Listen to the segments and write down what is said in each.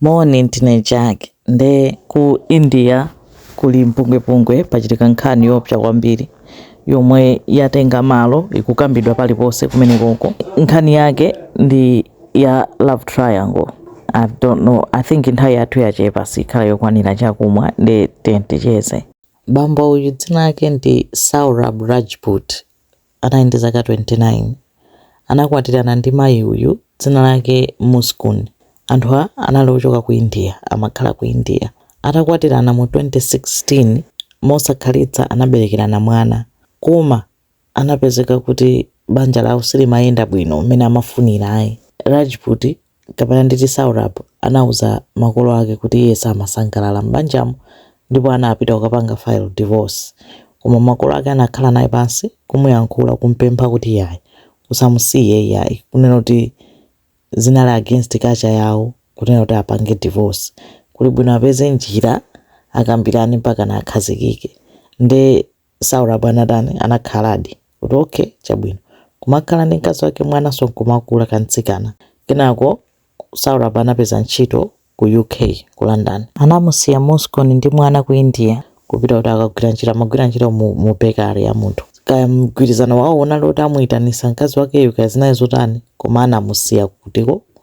Moni ndine Jack nde ku India kuli mpungwepungwe pachitika nkhani yoopsa kwambiri yomwe yatenga malo ikukambidwa paliponse kumenekoko nkhani yake ndi ya love triangle I don't know I think nthawi yathu yachepa sikhala yokwanira chakumwa nde tiyeni ticheze bambo uyu dzina lake ndi Saurabh Rajput anali ndi zaka 29. Anakwatirana ndi mayi uyu, dzina lake Muskan. Anthuwa anali ochoka ku India, amakhala ku India. Atakwatirana mu 2016, mosakhalitsa anaberekerana mwana. Koma anapezeka kuti banja lawo silimayenda bwino mmene amafunira ayi. Rajput kapena nditi Saurabh, anauza makolo ake kuti iye samasangalala m'banjamo ndipo anapita kukapanga file divorce. Koma makolo ake anakhala naye pansi, kumuyankhula, kumpempha kuti yayi, usamusiye iyayi, kunena kuti zinali against culture yawo kunena kuti apange divorce, kuli bwino apeze njira akambirane mpakana akhazikike. Nde. Saurabh anatani? Anakhaladi kuti okay, chabwino. Kumakhala ndi mkazi wake, mwananso nkumakula, kamtsikana. Kenako Saurabh anapeza ntchito ku UK, ku London. Anamusiya Muskan ndi mwana ku India kupita kuti akagwire ntchito. Amagwira ntchito mu, mu bakery ya munthu. Kaya mgwirizano wawo unali woti amuitanisa mkazi wakeyu kaya zinali zotani, koma anamusiya kutiko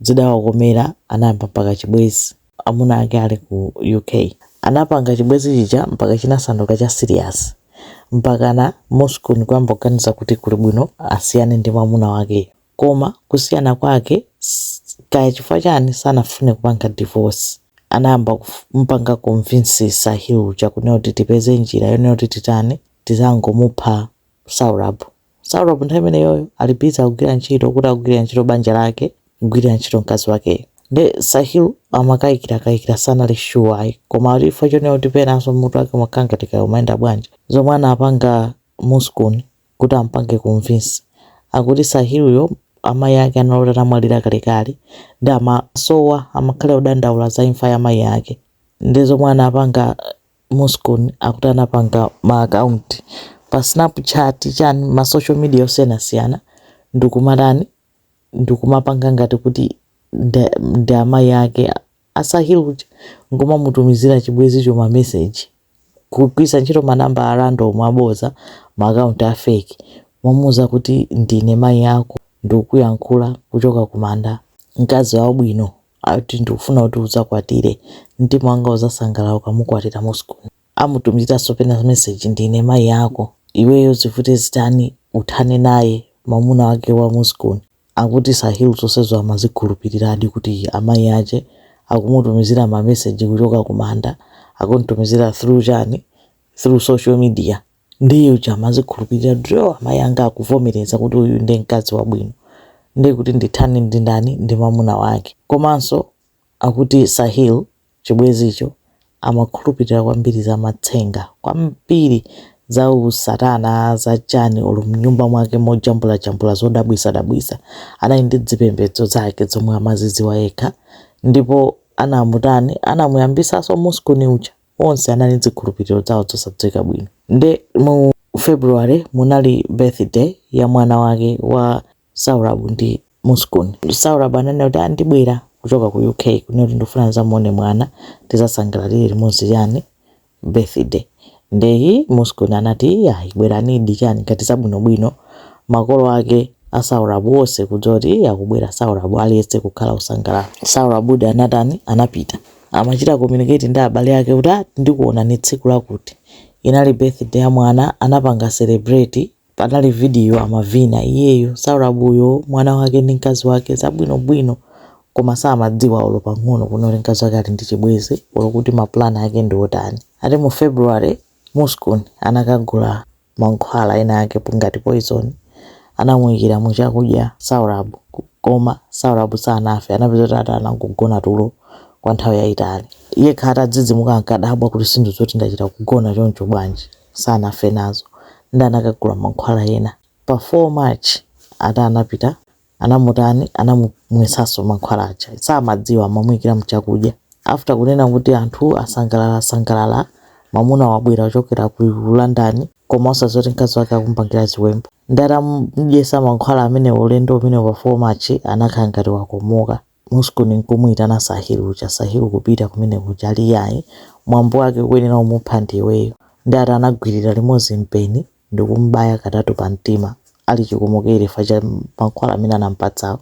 zidawakomera anayamba mpaka chibwezi amuna ake ali ku UK anapanga chibwezi chija mpaka chinasanduka cha serious mpakana Muskan kuyamba kuganiza kuti kuli bwino asiyane ndi mwamuna wakeyo koma kusiyana kwake s- kaya chifukwa chani sanafune kupanga divorce anayamba kumpanga convince Sahil uja kunena kuti tipeze njira yonena kuti titani tizangomupha Saurabh. Saurabh nthawi imeneyoyo ali busy akugwira ntchito kuti akugwirira ntchito banja lake, kugwirira ntchito mkazi wakeyo. Nde Sahil amakayikira kayikira sanali sure ayi koma kuti chifukwa chonena kuti penanso mmutu wake umakhala ngati kaya umayenda bwanji zomwe anapanga Muskan kuti amupange convince akuti Sahilyo amayi ake anali oti anamwalira kalekale nde amawasowa amakhala odandaula za imfa ya mayi ake nde zomwe anapanga Muskan akuti anapanga ma account pa snapchat chani ma social media osiyanasiyana ndikumatani ndikumapanga ngati kuti nda- ndi amayi ake a Sahil uja nkumamutumizira chibwezicho ma message kugwiritsa ntchito manamba a random aboza ma account a fake momuuza kuti ndine mayi ako ndikukuyankhula kuchoka kumanda mkazi wabwino ati ndikufuna kuti udzakwatire mtima wanga uzasangalala ukamukwatira muskun amutumiziraso pena message ndine mayi ako iweyo zivute zitani uthane naye mamuna wake wa muskun akuti sahil zosezo amazikhulupiliradi kuti amayi ache akumutumizira ma message kuchoka kumanda akumtumizira through chani through social media ndiye uja amazikhulupirira ndi amayi anga akuvomereza kuti uyu ndi mkazi wabwino ndiye kuti ndithani ndi ndani ndi mamuna wake komanso akuti sahil chibwezicho amakhulupirira kwambiri za matsenga kwambiri za usatana za chani olo mnyumba mwake mojambulajambula zodabwisadabwisa anali ndi zipembedzo zake zomwe amaziziwa yekha ndipo anamutani anamuyambisaso muskun uja onse anali ndi zikhulupiriro zawo zosadziwika bwino. Nde mu February munali birthday ya mwana wake wa Saurabh ndi Muskun. Saurabh ananena kuti, ah ndibwera kuchoka ku UK kunena kuti ndikufuna ndizamuone mwana, tizasangalalire limodzi chani birthday. Nde hi Muskun anati, iyayi bweranidi chani ngati zabwinobwino. Makolo ake a Saurabh onse kudziwa kuti hi akubwera Saurabh aliyense kukhala osangalala. Saurabhdi anatani? Anapita. Amachita communicate ndi abale ake kuti ah ndikuonani tsiku lakuti. Inali birthday ya mwana anapanga celebrate panali video amavina iyeyo Saurabh uyo, mwana wake ndi mkazi wake zabwinobwino koma samadziwa olo pang'ono kunena kuti mkazi wake ali ndi chibwenzi olo kuti ma plan ake ndi otani. Ati mu February Muskun anakagula mankhwala enaake ngati poizoni, anamuikira mu chakudya Saurabh koma Saurabh sanafe, anapeza kuti ati anangogona tulo kwa nthawi yaitali. Iyekha atadzidzimuka ankadabwa kuti sizinthu zoti ndachita kugona choncho bwanji sanafe nazo nde anakagula mankhwala ena. Pa 4 March ati anapita anamutani anamumwesanso mankhwala aja samadziwa amamuyikira mchakudya after kunena kuti anthu asangalala sangalala mamuna wabwera kuchokera ku London koma osadziwa kuti mkazi wake akumpangira ziwembu nde atamudyesa mankhwala amene ulendo umenewu pa 4 March anakhala ngati wakomoka Muskun n'kumuitana Sahil uja, Sahil kupita kumene kuja ali iyayi, mwambo wake ukuyenera umupha ndiiweyo. Nde ati anagwirira limodzi mpeni ndikum'baya katatu pa mtima ali chikomokere chfukwa cha mankhwala amene anamupatsawo.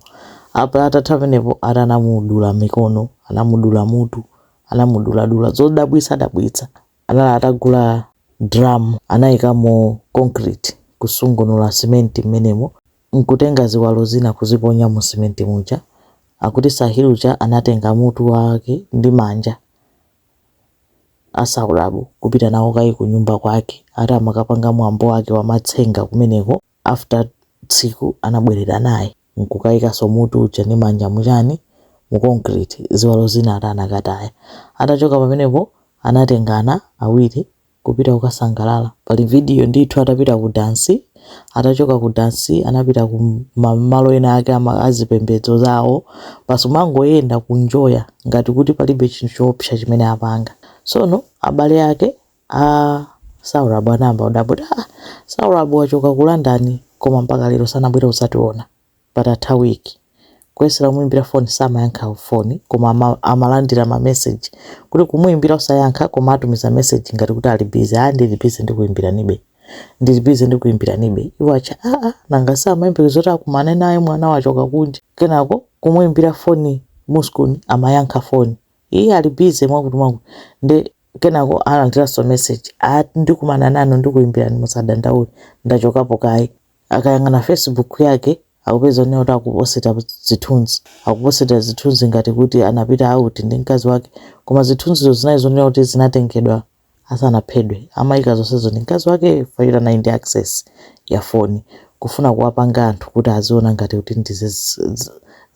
Apa atatha pamenepo ati anamudula mikono, anamudula mutu, anamuduladula zodabwitsa dabwitsa. Anali atagula drum anaikamo concrete kusungunula cement m'menemo. nkutenga ziwalo zina kuziponya mu simenti muja, akuti Sahil uja anatenga mutu wake ndi manja a Saurabh kupita nawo kaye ku nyumba kwake ati amakapanga mwambo wake wa matsenga kumeneko after tsiku anabweranso naye nkukaikanso mutu uja ndi manja mu chani mu concrete ziwalo zina ati anakataya atachoka pamenepo anatengana awiri kupita kukasangalala. Pali video ndithu atapita ku dansi, atachoka ku dansi anapita ku malo ena ake azipembedzo zawo, basi kumangoyenda kunjoya ngati kuti palibe chinthu choopsa chimene apanga. Tsono abale ake a Saurabh anayamba kudabwa kuti, ah, Saurabh wachoka ku London koma mpaka lero sanabwere kudzationa. patatha week kuyesera kumuimbira phone samayankha phone koma ama, amalandira ma message kuti kumuimbira osayankha koma atumiza message ngati kuti ali busy ah ndili busy ndikuimbiranibe ndili busy ndikuimbiranibe iwo acha ah ah nanga samayembekeza zoti akumane naye mwana wachoka kunja kenako kumuimbira phone Muskan amayankha phone iye ali busy mwakuti mwakuti nde kenako alandiranso message ati ndikumana nanu ndikuimbirani musadandaule ndachokapo kaye Akayang'ana Facebook yake, akupeza kunena kuti akuposita zithunzi. Akuposita zithunzi ngati kuti anapita out ndi mkazi wake, koma zithunzizo zinali zonena kuti zinatengedwa asanaphedwe. Amayika zonsezo ndi mkazi wakeyo chifukwa choti anali ndi access ya foni. Kufuna kuwapanga anthu kuti aziona ngati kuti ndi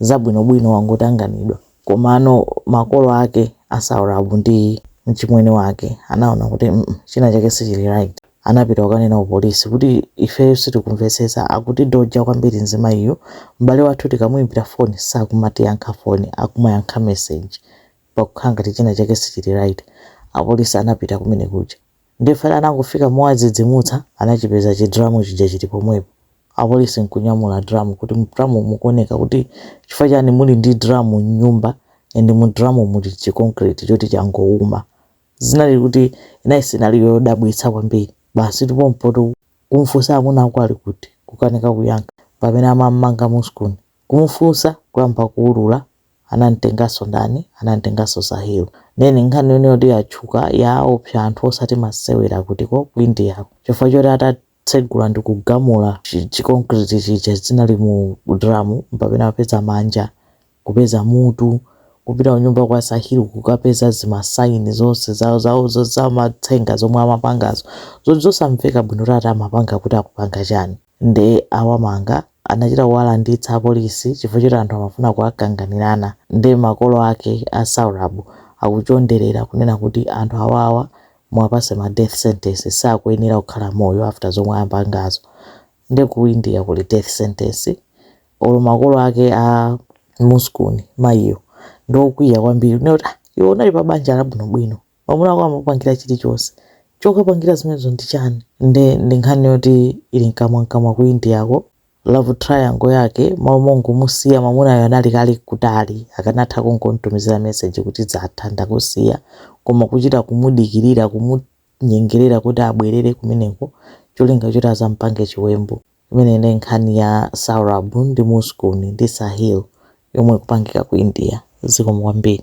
zabwinobwino wangotanganidwa. Komano makolo ake a Saurabh ndi mchimwene wake anaona kuti mm china chake sichili right. Anapita kukanena ku police kuti ifeyo sitikumvetsetsa akutidodja kwambiri mzimayiyu, m'bale wathu tikamuimbira foni sakumatiyankha foni akumayankha message pakukhala ngati china chake sichili right. Apolisi anapita kumene kuja. Ndiye fana anangofika mowadzidzimutsa anachipeza chi drum chija chili pomwepo. Apolisi nkunyamula drum kuti mu drum mu mukuoneka kuti chifukwa chani muli ndi drum mnyumba and mu drum muli chi concrete choti changouma. Zinali kuti nkhani inali yodabwitsa kwambiri. Basitu pompo kumfunsa amuna ako ali kuti? Kukanika kuyankha. Mpamene amammanga Muskan. Kumufunsa kuyamba kuulula anamtenganso ndani anamtenganso sahil nde nkhani yonena kuti yatchuka yaopsa anthu osati masewera akutiko ku indiako chifukwa choti atatsegula ndi kugamula chi- chi concrete chija zinali mu dramu mpamene apeza manja kupeza mutu kupita kunyumba kwa sahil kukapeza zimasaini zonse zawo zawo zo- zamatsenga zomwe amapangazo zoti zosamveka bwino kuti ati amapanga kuti akupanga chani nde awamanga anachita kuwalanditsa apolisi chifukwa choti anthu amafuna kuwakanganilana nde makolo ake a saurabh akuchondelela kunena kuti anthu awawa muwapase ma death sentence sakuyenela kukhala moyo after zomwe ampangazo nde ku India kuli death sentence olo makolo ake a muskun mayiyo ndiokwiya kwambili kunena kuti iwe unali pa banja labwinobwino Mwamuna wako amapangira chilichonse. Chokapangira zimenezo ndi chani? Nde ndi nkhani yoti ili mkamwamkamwa ku Indiako. Love triangle yake malo mongomusiya mwamunayo anali kale kutali akanatha kungomtumizira message kuti zatha ndakusiya koma kuchita kumudikirira kumunyengerera kuti abwerere kumeneko cholinga choti azampange chiwembu. Imeneyi nde nkhani ya Saurabh ndi Muskun ndi Sahil yomwe ikupangika ku India. Zikomo kwambiri.